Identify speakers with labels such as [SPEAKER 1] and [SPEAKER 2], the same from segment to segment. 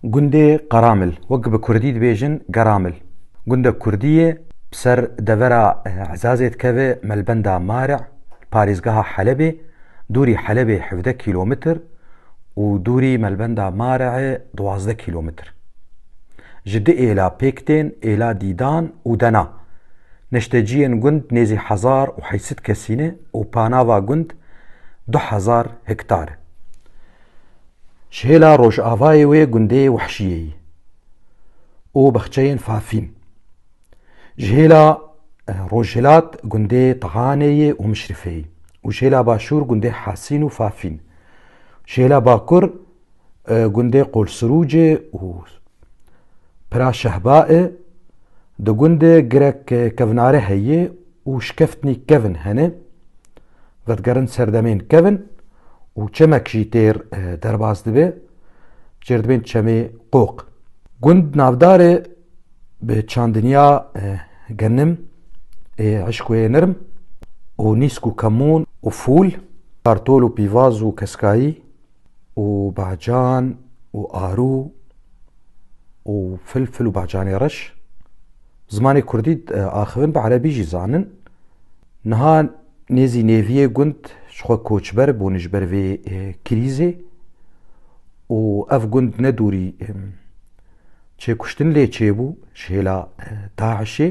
[SPEAKER 1] Gundê Qaramil, wek bi kurdî dibêjin Geramil, gundek kurdî ye, bi ser devera Ezazê dikeve Melbenda Marî, li parêzgeha Helebê, dûrî Helebê hevdeh kîlometr û dûrî Melbenda Marîê duwazdeh kîlometr. Ji du êla pêk tên, êla Dîdan û Dena. Neşteciyên gund nêzî hezar û heşt sed kesî ne û panava gund du hezar hektar e. Ji hêla rojavayê wê gundê Wehşiyeyî û bexçeyên Fafîn, ji hêla rojhilat gundê Tihaneyê û Mişrifeyî û ji hêla başûr gundê Hasîn û Fafîn, ji hêla bakur gundê Qolsirûcê û Pira Şehbaê di gundê girek kevnare heye û şikeftnî kevn hene. vedigerin serdemên kevin û çemek jî têr derbas dibe çêrdibên çemê qoq. Gund navdarê bi çandinya genim ê eşkoyê nirm û nîsk û kemûn û fûl, kartol û pîvaz û keskayî, û bacan û arû û filfil û bacanê reş zimanê kurdî e, axivin bi erebî jî zanin. Niha nêzî nêviyê gund ji xwe koçber bûn ji ber vê e, krîzê û ev gund ne dûrî e, çêkuştin lê çêbû ji hêla e, DAIŞê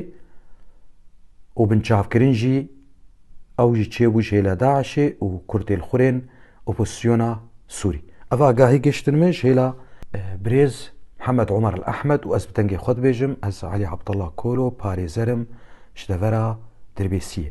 [SPEAKER 1] û binçavkirin jî ew jî çêbû ji hêla DAIŞê û kurdên xurên Opozîsyona Sûrî. Ev agahî gihiştin min ji hêla birêz Mihemed Omer El Ehmed û ez bi dengê xwe dibêjim ez Elî Abdullah Kolo parêzer im ji devera Dirbêsiyê.